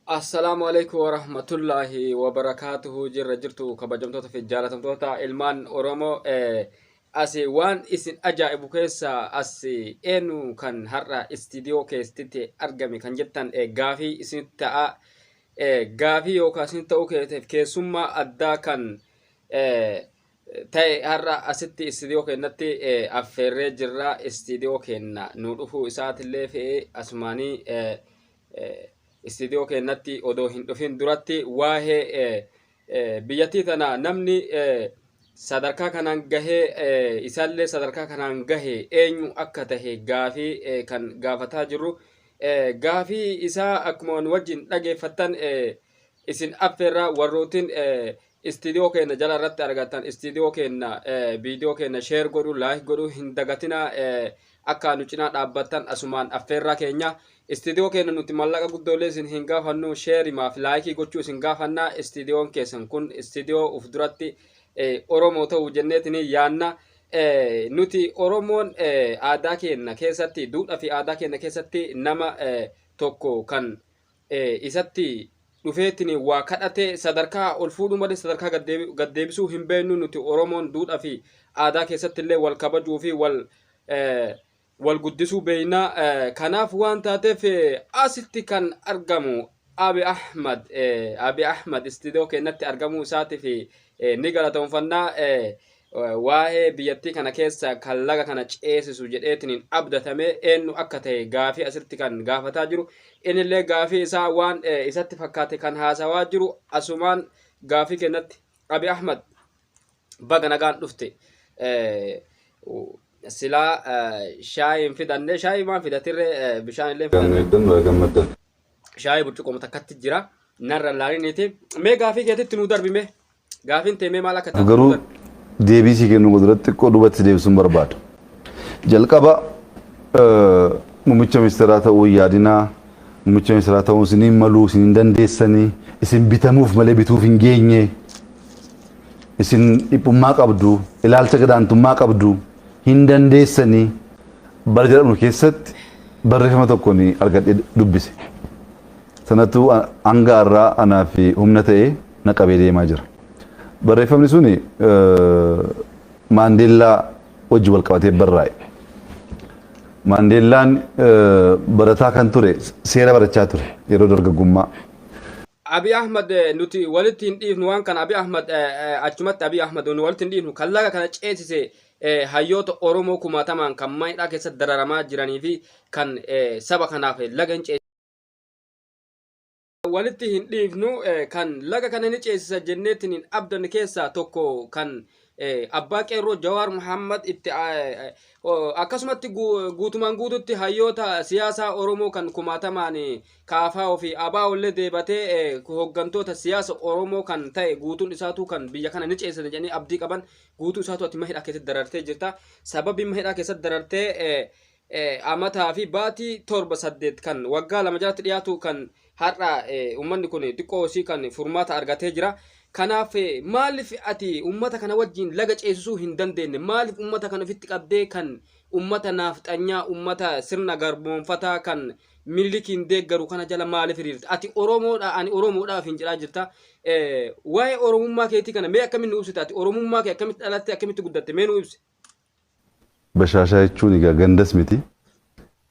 Assalaamu alaikum wa rahmatullaahi wa barakaatuhu jirra jirtu kabajamtoota fi jaalatamtoota ilmaan Oromoo eh, asi waan isin ajaa'ibu keessaa asi eenyu kan har'a istiidiyoo keessatti argame kan jettan eh, gaafii isinitti ta'a e Gaafii yoo kaasni ta'uu keeteef keessummaa addaa kan e ta'e har'a asitti istiidiyoo keennatti e affeerree jirra istiidiyoo keenna nu dhufuu isaatillee fi asumaanii e e istiidiyoo keennatti odoo hin dhufin duratti waa'ee e biyyattii tana namni sadarkaa kanaan gahee isaallee sadarkaa kanaan gahe eenyu akka tahe gaafii kan gaafataa jirru gaafii isaa akkuma nu wajjin dhageeffattan isin affeerraa warrootiin istiidiyoo keenya jala irratti argattan istiidiyoo keenya viidiyoo keenya sheer godhu laayik godhu hin dagatinaa Akka nu cinaa dhaabbattan asumaan affeerraa keenya. Istiidiyoo keenya nuti mallaqa guddoolee isin hin gaafannu, sheerimaa fi laayikii gochuu isin gaafanna. Istiidiyoon keessan kun istiidiyoo uf duratti Oromoo ta'u jenneetini yaanna. Nuti Oromoon aadaa keenya keessatti, duudhaa fi aadaa keenya keessatti nama tokko kan isatti dhufeetiin waa kadhatee sadarkaa ol fuudhuu malee sadarkaa gad deebisuu hin beeknu nuti Oromoon duudhaa fi aadaa keessatti illee wal kabajuu fi wal wal guddisuu beekna. Kanaaf waan taateef asitti kan argamu Abi Ahmad Abi Ahmad istiidiyoo keenyatti argamuu isaatiif Ni galatoonfannaa waa'ee biyyattii kana keessa kan laga kana ceesisu jedheetiniin abdatame eenyu akka ta'e gaafii asitti kan gaafataa jiru inillee gaafii isaa waan isatti fakkaate kan haasawaa jiru asumaan gaafii kennatti abi ahmad baga nagaan dhufte silaa shaayiin fidanne shaayii maan fidatirre bishaan illee fidanne. shaayii burcuqqoo takkatti jira narra hin laaliniiti mee gaafii keetitti nuu darbi mee gaafiin tee mee maal akka taatu garuu deebii sii kennuu duratti xiqqoo duubatti deebisuun barbaada. Jalqaba eh, muummicha ministeeraa ta'uu hin yaadinaa muummicha ministeeraa ta'uu isin hin maluu isin hin dandeessanii isin bitamuuf malee bituuf hin geenye isin dhiphummaa qabdu ilaalcha gadaantummaa qabdu hin dandeessanii Bara jalqabnu keessatti barreeffama tokko ni argadhee dubbise. Sanatu hanga har'aa anaa fi humna ta'ee na qabee deemaa jira. Barreeffamni suni Maandeellaa wajjin wal qabatee barraa'e. Maandeellaan barataa kan ture seera barachaa ture yeroo dargaggummaa. Abi Ahmad nuti walitti hin dhiifnu waan kana Abi Ahmad achumatti Abi Ahmad nu walitti hin dhiifnu kan laga kana ceesise hayyoota Oromoo kumaatamaan kan mana hidhaa keessatti dararamaa jiranii fi kan saba kanaaf laga hin ceesisan. Walitti hin dhiifnu kan laga kana ni ceesisa jenneetiin hin abdanne keessaa tokko kan abbaa qeerroo Jawaar Muhammad itti akkasumatti guutumaan guututti hayyoota siyaasaa Oromoo kan kumaatamaan kaafaa fi abaa ollee deebatee hooggantoota siyaasa Oromoo kan ta'e guutuun isaatuu kan biyya kana ni ceesisa jedhanii abdii qaban guutuu isaatu ati mahidhaa keessatti darartee jirta sababii mahidhaa keessatti darartee amataa fi baatii torba saddeet kan waggaa lama jalatti dhiyaatu kan har'a uummanni kun xiqqoo isii kan furmaata argatee jira. Kanaaf maaliif ati uummata kana wajjin laga ceesisuu hin dandeenye maaliif uummata kana ofitti qabdee kan uummata naafxanyaa uummata sirna garboonfataa kan Minilikiin deeggaru kana jala maaliif hiriirta? Ati Oromoodha, ani Oromoodha ofiin jedhaa jirta. Eh, Waa'ee Oromummaa keetii kana mee akkamitti nu ibsita? Ati Oromummaa kee akkamitti dhalatte, akkamitti guddatte? Mee nu ibsi. Bashaashaa jechuun egaa gandas miti.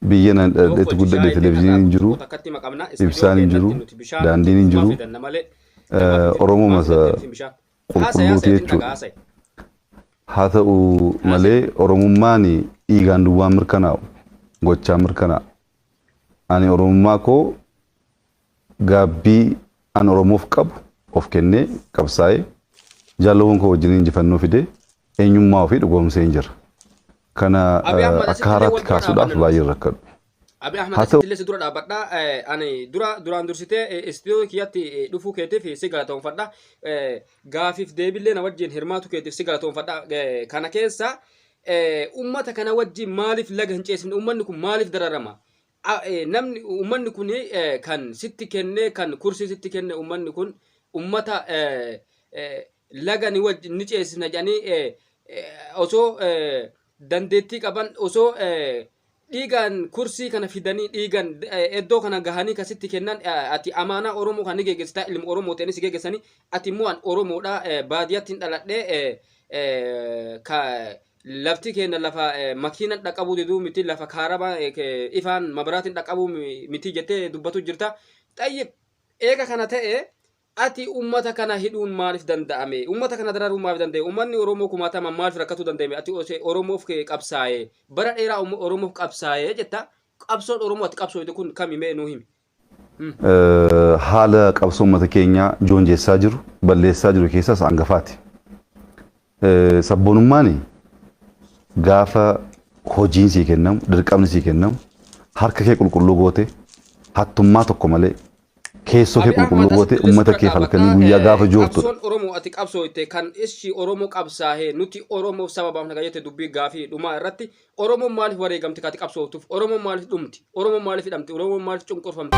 Biyya nan Tokko dhaladhetti itti guddadhe shaayii televizyiiniin xiqqataa hin tokko jiru, tokko takkatti hima qabna. Istiidiyoo ibsaan hin jiru, keenyatti nuti bishaan daandiin hin guutummaa jiru. fidanna malee Eh, galma keenya Oromoo guutummaa masa fidanne isin bishaan. qulqulluuti jechuudha. Haa ta'u malee Oromummaan dhiigaan duwwaan mirkanaa'u gochaan mirkanaa'a. Ani Oromummaa koo gaabbii an Oromoof qabu of kennee qabsaa'ee jaalawwan koo wajjin injifannoo fidee eenyummaa ofii dhugoomseen jira. Kana akka haaraatti kaasuudhaaf baay'een rakkadhu. Abi Ahmed Haa ta'u- asittillee si dura dhaabbadha. Eh, Ani dura duraan dursitee eh, istiidiyoo kiyyatti eh, dhufuu keetiif si galatoomfadha. Eh, Gaafiif deebillee na wajjin hirmaatu keetiif si galatoomfadha. Eh, Kana keessa eh, ummata kana wajjin maaliif laga hin ceesifne? Ummanni kun maaliif dararama? A- eh, Namni ummanni kun eh, kan sitti kennee kan kursii sitti kenne ummanni kun ummata eh, eh, laga ni wajji ni ceesisna jedhanii eh, eh, osoo eh, dandeettii qaban osoo eh, dhiigaan kursii kana fidanii dhiigan eh, iddoo kana gahanii kasitti kennan eh, ati amaanaa oromoo kan ni geggeessitaa ilma oromoo ta'e ni si geggeessanii ati immoo an oromoodha eh, baadiyyaatti hin dhaladhee eh, eh, ka lafti keenya lafa eh, makiinan dhaqabuu diduu miti lafa kaarabaa eh, ke- ifaan mabaraatiin dhaqabuu mi- miti jettee dubbatu jirta xayyib eega kana ta'e Ati ummata kana hidhuun maalif danda'ame? Ummata kana dararuun maalif danda'e? Ummanni Oromoo kumaatamaan maalif rakkatuu danda'e mee? Ati ose Oromoof qabsaaye, bara dheeraa umma Oromoof qabsaaye jetta, qabsoon Oromoo ati qabsooyte kun kami mee nuu himi? Him. Haala qabsoo ummata keenyaa joonjessaa jiru, balleessaa jiru keessaas angafaati. Sabboonummaan gaafa hojiin sii kennamu, dirqamni sii kennamu, harka kee qulqulluu goote, hattummaa tokko malee, keessoo kee qulqulluu goote, uummata kee halkanii guyyaa gaafa joortudha. Qabsoon Oromoo ati qabsooyte kan issi Oromoo qabsaahee nuti Oromoof saba baafna kan jette dubbii gaafii dhumaa irratti Oromoon maaliif wareegamti kan ati qabsooftuf? Oromoon maaliif dhumti? Oromoon maaliif hidhamti? Oromoon maaliif cunqurfamti?